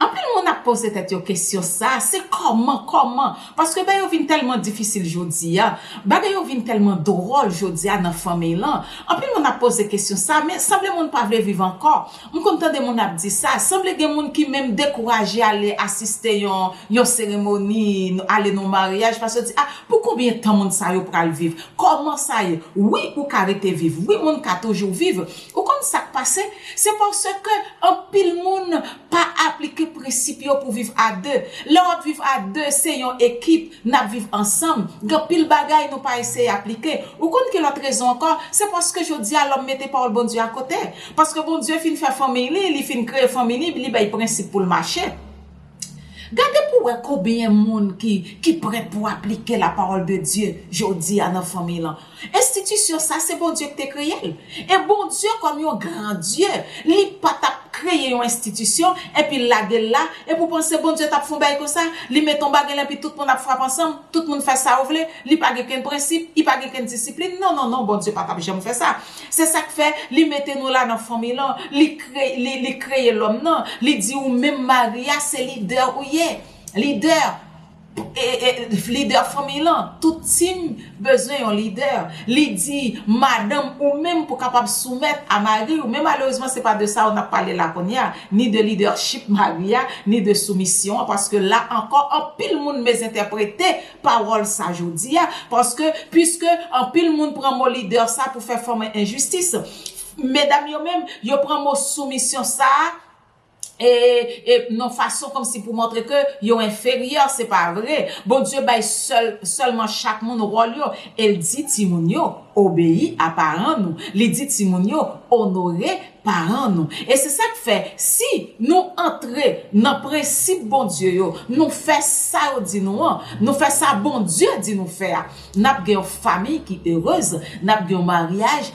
Anpil moun ap poze tèt yo kesyon sa, se kòman, kòman? Paske bèy yo vin tèlman difisil jodi a, bagay yo vin tèlman dwòl jodi a nan fanmiy lan. Anpil moun ap poze kesyon sa, men sanble moun pa vle viv ankò. M konn tande moun ap di sa, sanble gen moun ki menm dekouraje ale asiste yon yon seremoni, ale nan yon maryaj, paske yo di, ah, pou konbyen tan moun sa yo pral viv? Kòman sa ye? Wi, ou ka rete viv. Wi, moun ka toujou viv. Ou konn sa k pase? Se paske anpil moun pa aplike prensip yo pou viv a de. Lè w ap viv a de, se yon ekip, n ap viv ansanm. Gen anpil bagay nou pa eseye aplike. Ou konn ki lòt rezon ankò? Se paske jodi a lòm mete pawòl Bondye akote. Paske Bondye fin fè fanmiy li, li fin kreye fanmi li, li bay prensip pou l mache. Gade pou w wè konbyen moun ki prèt pou aplike lapawòl de Dye jodi a nan fanmiy lan. Enstitisyon sa se Bondye ki te kreye l. E Bondye kòm yon gran Dye, li pa t ap kreye yon enstitisyon epi l lage l la, epi w panse Bondye t ap fè yon bagay konsa, li mete yon bagay la epi tout moun ap frape ansanm, tout moun fè sa yo vle, li pa gen kenn prensip, li pa gen kenn disiplin. Non, non, non, Bondye pa t ap janm fè sa. Se sa k fè, li mete nou la nan fanmi lan, li li li kreye lòm nan, li di ou menm mari a se lidè ou ye. Lidè! Leader fanmiy lan, tout team bezwen yon leader. Li di madanm ou menm pou kapab soumèt a mariw men malerezman se pa de sa ou nap pale la kounya, ni de leadership mari a, ni de soumisyon an paske la ankò anpil moun mezentèprete pawòl sa jodi a paske puiske anpil moun pran mo leader sa pou fè fòm enjistis. Medam yo menm yo pran mo soumisyon sa e e non fason kòmsi pou montre ke yo enferyè se pa vre Bondye bay sèl sèlman chak moun wòl yo el di timoun yo obeyi a paran nou li di timoun yo onore paran nou e se sak fè si nou antre nan prensip Bondye yo nou fè sa yo di nou an nou fè sa Bondye di nou fè a nap gen yon famiy ki erez nap gen yon maryaj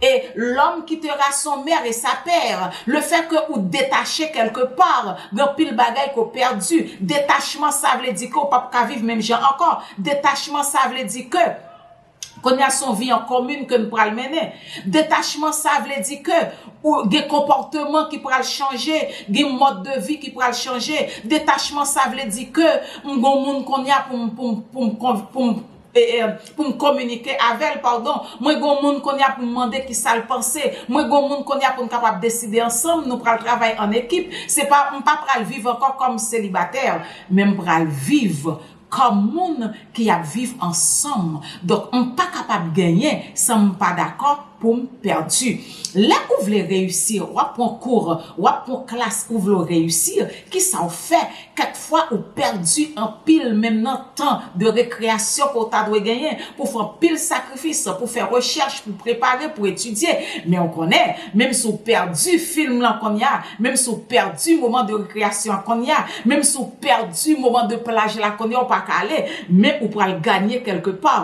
E lòm kitera son mère et sa père, le fait ke ou detache kèlke part, gen anpil bagay ke w pèdi, detachman sa vle di ke w pap ka viv menm jan ankò, detachman sa vle di ke kounye a son vi an komin ke n pral mennen, detachman sa vle di ke ou gen konpòteman ki pral chanje, gen mòd de vi ki pral chanje, detachman sa vle di ke m gon moun kounye a pou m pou m pou m pou m Ee, pou m kominike avè l, padon. Mwen gen yon moun kounye a pou m mande ki sa l panse. Mwen gen yon moun kounye a pou n kapab deside ansanm. Nou pral travay ann ekip. Se pa, m pa pral viv ankò kòm selibatè, men m pral viv kòm moun ki ap viv ansanm. Donk, m pa kapab genyen san m pa dakò pou m pèdi. Lè ou vle reyisi, w ap pran kou, w ap pran klas, ou vle reyisi, ki sa ou fè? Kèk fwa ou pèdi anpil menm nan tan de rekreyasyon ke w ta dwe genyen pou w fè anpil sakrifis pou w fè rechèch, pou w prepare, pou w etidye. Men ou konnen, menm si w pèdi film lan konnya, menm si w pèdi moman de rekreyasyon an konnya, menm si w pèdi moman de plaj la konnya ou pa ka ale, men ou pral ganye kèlke pa.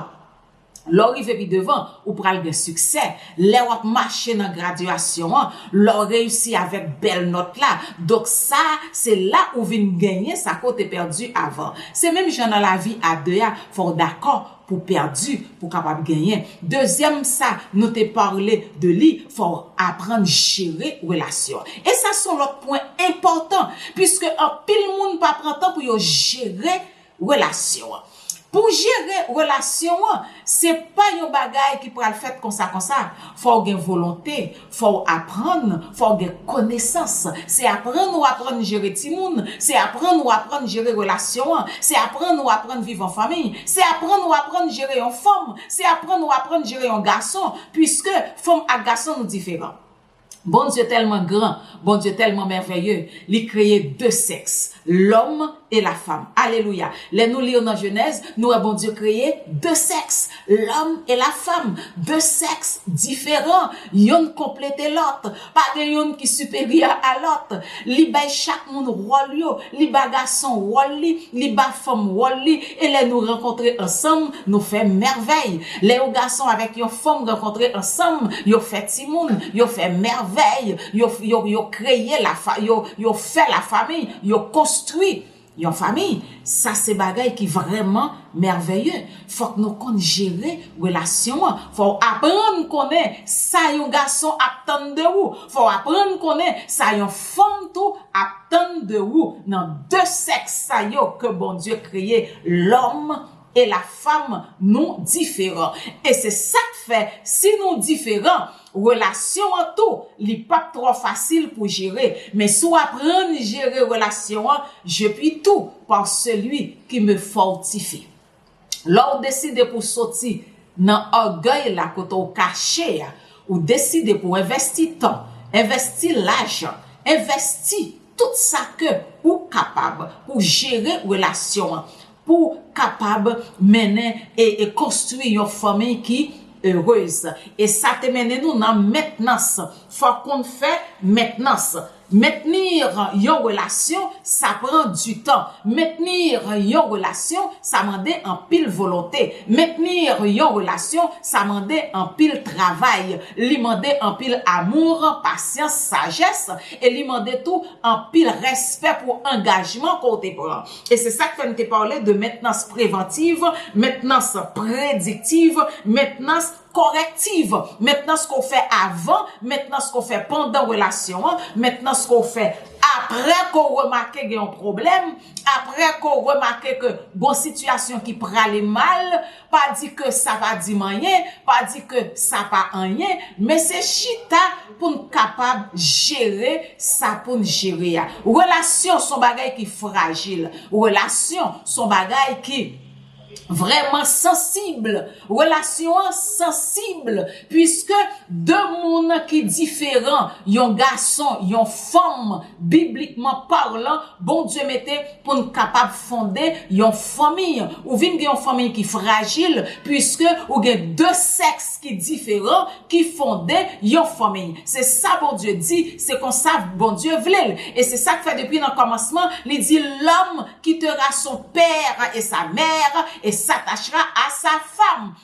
Lè w rive pi devan, ou pral gen siksè. Lè w ap mache nan gradyasyon an, lè w reyisi avèk bèl nòt la, donk sa a, se la ou vin genyen sa ke w te pèdi avan. Se menm jan nan lavi a de a, fò w dakò pou w pèdi pou w kapab genyen. Dezyèm sa nou te pale de li, fò w aprann jere relasyon. E sa s on lòt pwen enpòtan, piske anpil moun pa pran tan pou yo jere relasyon an. Pou jere relasyon an, se pa yon bagay ki pral fèt konsa konsa. Fò w gen volonte, fò w aprann, fò w gen konesans. Se aprann ou aprann jere timoun, se aprann ou aprann jere relasyon an, se aprann ou aprann viv an fanmi, se aprann ou aprann jere yon fanm, se aprann ou aprann jere yon gason, puiske fanm ak gason nou diferan. Bondye tèlman gran, Bondye tèlman mèvèye, li kreye 2 sèks, lòm e lafam. Alelouya! Lè nou li nan Jenèz, nou wè Bondye kreye 2 sèks, lòm e lafam. 2 sèks diferan, yonn konplete lòt. Pa gen yonn ki siperyè a lòt. Li bay chak moun wòl yo, li ba gason wòl li, li ba fanm wòl li, e lè nou rankontre ansanm, nou fè mèvèy. Lè yon gason avèk yon fanm rankontre ansanm, yo fè timoun, yo fè mèvèy, yo, yo, yo kreye lafa, yo, yo fè lafamiy, yo konstwi. Yon fanmi, sa se bagay ki vrèman mèvèye. Fòk nou konn jere relasyon an. Fò w aprann konnen sa yon gason ap tann de ou. Fò w aprann konnen sa yon fanm tou ap tann de ou nan de sèks sa yo ke Bondye kreye, lòm e la fanm nou diferan e se sak fè si nou diferan relasyon an tou li pap trò fasil pou jere men si w aprann jere relasyon an je pi tou par celui ki me fortifi lè w deside pou w soti nan ògèy la kote w kache a ou deside pou w envèsti tan envèsti lajan envèsti tout sa ke ou kapab pou w jere relasyon an pou w kapab mennen e konstwi yon fanmi ki erez. E sa te mennen nou nan mentnans. Fò w konn fè mentnans. Mentnir yon relasyon, sa pran di tan. Mentnir yon relasyon, sa mande anpil volonte. Mentnir yon relasyon, sa mande anpil travay. Li mande anpil amour, pasyans, sajès. E li mande tou anpil respè pou angajman ke w te pran. E se sa k fè m te pale de mentnans prevantiv, mentnans prediktiv, mentnans kòrektiv. Mentnans ke w fè avan, mentnans ke w fè pandan relasyon an, mentnans ke w fè apre ke w remake gen yon pwoblèm, apre ke w remake ke gon sitiyasyon ki prale mal. Pa di ke sa pa di m anyen, pa di ke sa pa anyen, men se chita pou n kapab jere sa pou n jere a. Relasyon son bagay ki frajil, relasyon son bagay ki vreman sansib, relasyon an sansib puiske 2 moun ki diferan, yon gason, yon fanm Biblikman parlan, Bondye mete pou n kapab fonde yon fanmi. Ou vin gen yon fanmi ki frajil, piske ou gen de sèks ki diferan ki fonde yon fanmi. Se sa Bondye di, se konsa Bondye vle l. E se sa k fè depi nan kòmansman, li di, Lòm kitera son père et sa mère, et s'attachera à sa femme.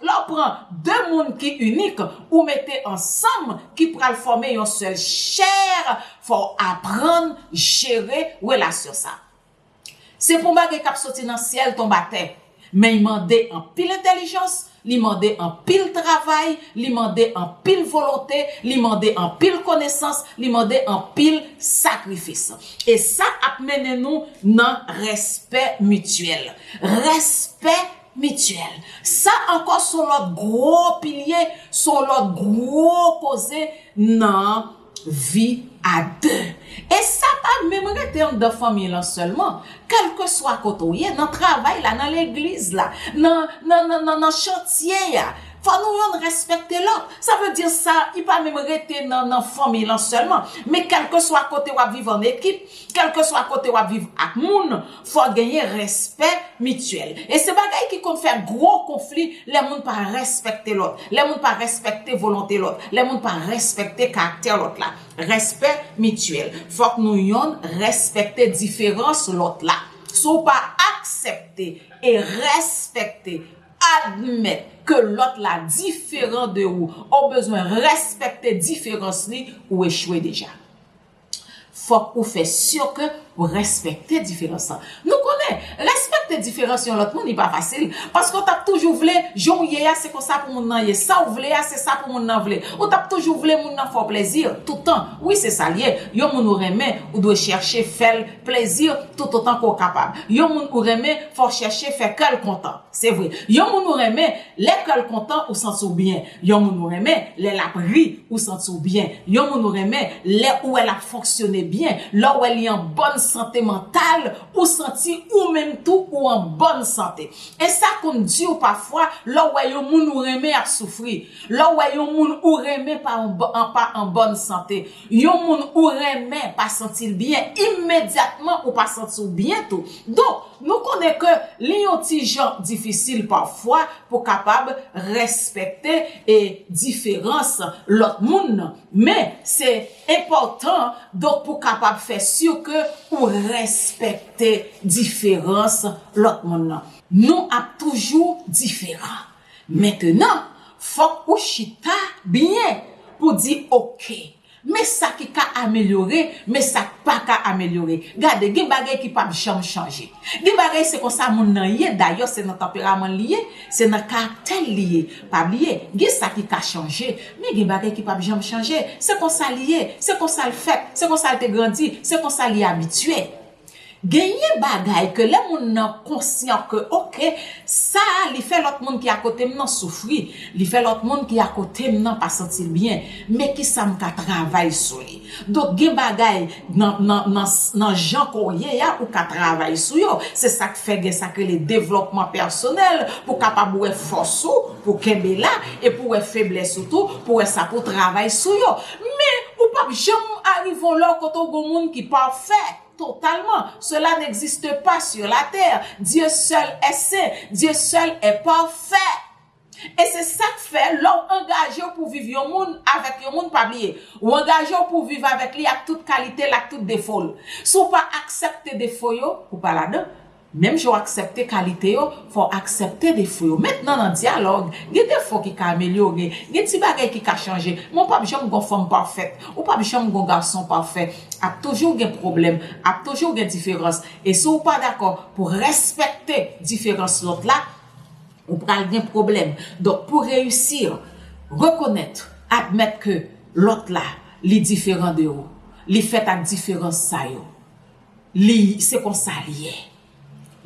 Lè w pran de moun ki inik, ou mete ansanm, ki pral fòme yon sèl chè, fò w aprann jere relasyon sa. Se pa yon bagay k ap soti nan syèl tonbe atè, men y mande anpil entèlijans, li mande anpil travay, li mande anpil volonte, li mande anpil konesans, li mande anpil sakrifis. E sa ap mennen nou nan respè mityèl. Respè Mityèl. Sa ankò s on lòt gwo pilye, s on lòt gwo koze nan vi a de. E sa pa menm rete anndan fanmiy lan sèlman. Kèlkeswa kote w ye, nan travay la, nan legliz la, nan chantye a, fò nou youn rèspèkte lòt. Sa vle di sa li pa menm rete nan fanmiy lan sèlman. Men kèlkeswa kote w ap viv ann ekip, kèlkeswa kote w ap viv ak moun, Fòk genyen respè mityèl. E se bagay ki konn fè gwo konfli lè moun pa respèkte lòt, lè moun pa respèkte volonte lòt, lè moun pa respèkte karaktè lòt la. Respè mityèl. Fòk nou yonn respèkte diferans lòt la. Si w pa aksepte e respèkte, admèt ke lòt la diferan de ou, ou bezwen respèkte diferans li, ou echwe deja. fòk ou fè sur ke ou respekte diferans lan. Nou konnen, respekte diferans yon lòt moun li pa fasil, paske ou tap toujou vle jan ou ye a se konsa pou moun nan ye, sa ou vle a se sa pou moun nan vle. Ou tap toujou vle moun nan fè w plezi toutan. Wi se sa l ye, yon moun ou renmen ou dwe chèche fè l plezi toutotan ke w kapab. Yon moun ou renmen fò w chèche fè kè l kontan. Se vre, yon moun ou renmen lè kè l kontan ou santi w byen. Yon moun ou renmen, lè l ap ri, ou santi w byen. Yon moun ou renmen, lè ou wè l ap fonksyone byen, lè w wè li an bòn sante mantal, ou santi ou menm tou ou an bòn sante. E sa konn di w pafwa lè w wè yon moun ou renmen ap soufri, lè w wè yon moun ou renmen pa an bòn sante, Yon moun ou renmen pa santi l byen, imedyatman ou pa santi w byen tou. Donk, nou konnen ke li yon ti jan difisil pafwa pou kapab respekte e diferans lòt moun nan. Men, se enpòtan donk pou kapab fè si ke ou respekte diferans lòt moun nan. Nou ap toujou diferan. Mentenan, fòk ou chita byen pou di ok. Men sa ki ka amelyore, men sa k pa ka amelyore. Gade, gen bagay ki p ap janm chanje. Gen bagay se konsa moun nan ye, dayè se nan tanperaman l li ye, se nan karaktè l li ye. Pa bliye, gen sa ki ka chanje, men gen bagay ki p ap janm chanje. Se konsa li ye, se konsa l fèt, se konsa l te grandi, se konsa li abitye. Genyen bagay ke lè moun nan konsyan ke ok, sa a li fè lòt moun ki akote m nan soufri, li fè lòt moun ki akote m nan pa santi l byen, men kisa m ka travay sou li. Donk gen bagay nan jan ke w ye a ou ka travay sou yo. Se sa k fè gen sa k rele devlòpman pèsonèl pou w kapab wè fòs ou, pou w kenbe la, e pou w wè feblès ou tou, pou w wè sa pou w travay sou yo. Men, ou p ap janm arive on lò kote ou gen on moun ki pafè, totalman. Sela n'existe pas sur la terre. Dieu seul est saint. Dieu seul est parfait. E se sa k fè, lè ou angaje ou pou viv yon moun, avèk yon moun, pa bliye, ou angaje ou pou viv avèk li ak tout kalite l, ak tout defo l. Si ou pa aksepte defo yo, ou pa ladan. Menm jan w aksepte kalite yo, fò w aksepte defo yo. Mentnan nan dyalòg, gen defo ki ka amelyore, gen ti bagay ki ka chanje, men w pap janm gon fanm pafèt, ou pap janm gon gason pafè. Ap toujou gen pwoblèm, ap toujou gen diferans. E si w pa dakò pou w respekte diferans lòt la, ou pral gen pwoblèm. Donk pou w reyisi, rekonèt, admèt ke lòt la, li diferan de ou, li fèt ak diferans sa yo. Li se konsa li ye.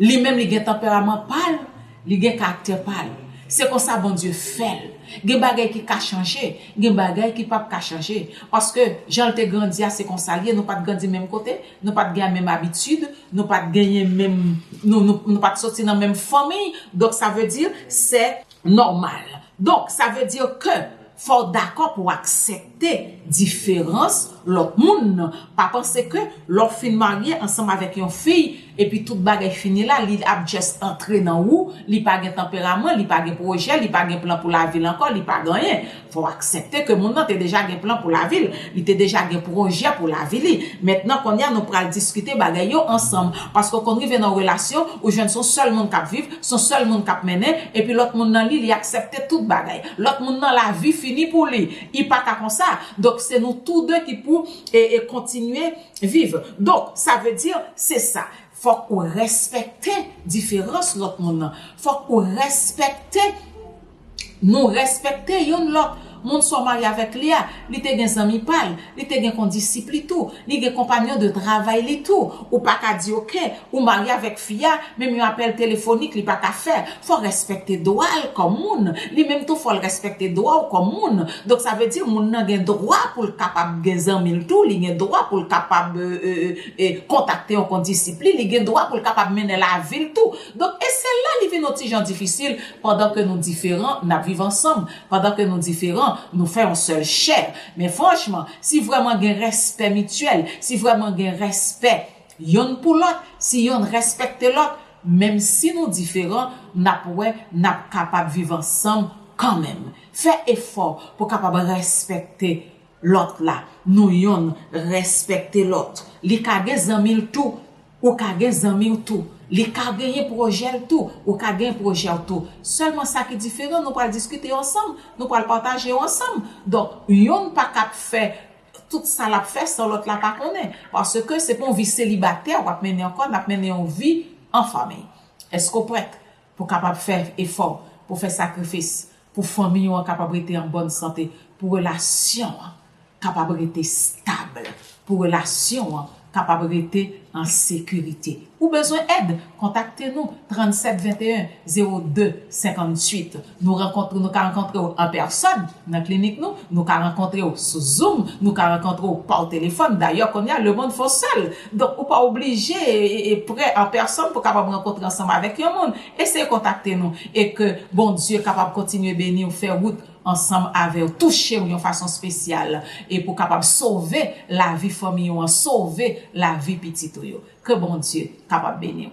Li menm li gen tanperaman pa l, li gen karaktè pa l. Se konsa Bondye fè l. Gen bagay ki ka chanje, gen bagay ki pap ka chanje. Paske jan l te grandi a se konsa l ye, nou pat grandi menm kote, nou pat gen menm abitid, nou pat genyen menm, nou pat soti nan menm fanmiy, donk sa vle di se. Nòmal. Donk, sa vle di ke fò w dakò pou w aksepte diferans lòt moun nan. Pa panse ke lè w fin marye ansanm avèk yon fi, epi tout bagay fini la, li ap just antre nan ou, li pa gen tanperaman, li pa gen pwojè, li pa gen plan pou lavi l ankò, li pa gen anyen. Fò w aksepte ke moun nan te deja gen plan pou lavi l, li te deja gen pwojè pou lavi li. Mentnan kounye a nou pral diskite bagay yo ansanm. Paske w konn rive nan yon relasyon, ou jwenn se yon sèl moun k ap viv, se yon sèl moun k ap mennen, epi lòt moun nan li, li aksepte tout bagay. Lòt moun nan lavi fini pou li. I pa ka konsa. Donk se nou tou de ki pou kontinye viv. Donk sa vle di, se sa. Fòk ou respekte diferans lòt moun nan. Fòk ou respekte. Nou respekte youn lòt. Moun sa w marye avèk li a, li te gen zanmi pa l, li te gen kondisip li tou, li gen konpanyon de travay li tou. Ou pa ka di ok, ou marye avèk fi a, menm yon apèl telefonik li pa ka fè. Fò w respekte dwa l kòm moun. Li menm tou fò l respekte dwa w kòm moun. Donk sa vle di moun nan gen dwa pou l kapab gen zanmi l tou, li gen dwa pou l kapab kontakte yon kondisip li, li gen dwa pou l kapab mennen lavi l tou. Donk e se la li vin yon ti jan difisil Pandan ke nou diferan, nap viv ansanm. Pandan ke nou diferan, nou fè yon sèl chè. Men franchman, si vrèman gen rèspè mityèl, si vrèman gen rèspè yonn pou lòt, si yonn rèspèkte lòt, menm si nou diferan, nap wè nap kapab viv ansanm kanmenm. Fè efò pou kapab rèspèkte Lòt la, nou yonn rèspèkte lòt. Li ka gen zanmi l tou, ou ka gen zanmi w tou. Li ka genyen pwojè l tou, ou ka genyen pwojè w tou. Sèlman sa ki diferan, nou pral diskite ansanm, nou pral pataje yo ansanm. Donk, yonn pa kab fè tout sa l ap fè san lòt la pa konnen. Paske se pa yon vi selibatè w ap mennen ankò, n ap mennen yon vi an fanmiy. Èske w prèt pou w kapab fè efò, pou w fè sakrifis, Pou fanmi ou an kapab rete an bòn sante, pou relasyon an kapab rete stab, pou relasyon an kapab rete an sekirite. Ou bezwen èd? Kontakte nou 37 21 02 58. Nou rankontre, nou ka rankontre ou an pèsòn nan klinik nou, nou ka rankontre ou sou zoom, nou ka rankontre ou pa w telefòn. Dayè kounye a lemonn fè w sèl, donk ou pa oblije pre an pèsòn pou w kapab rankontre ansanm avèk yon moun. Eseye kontakte nou e ke Bondye kapab kontinye beniw fè wout ansanm avèw touchew yon fason spesyal e pou kapab sove lavi fanmiy ou an sove lavi pitit ou yo ke Bondye kapab beniw.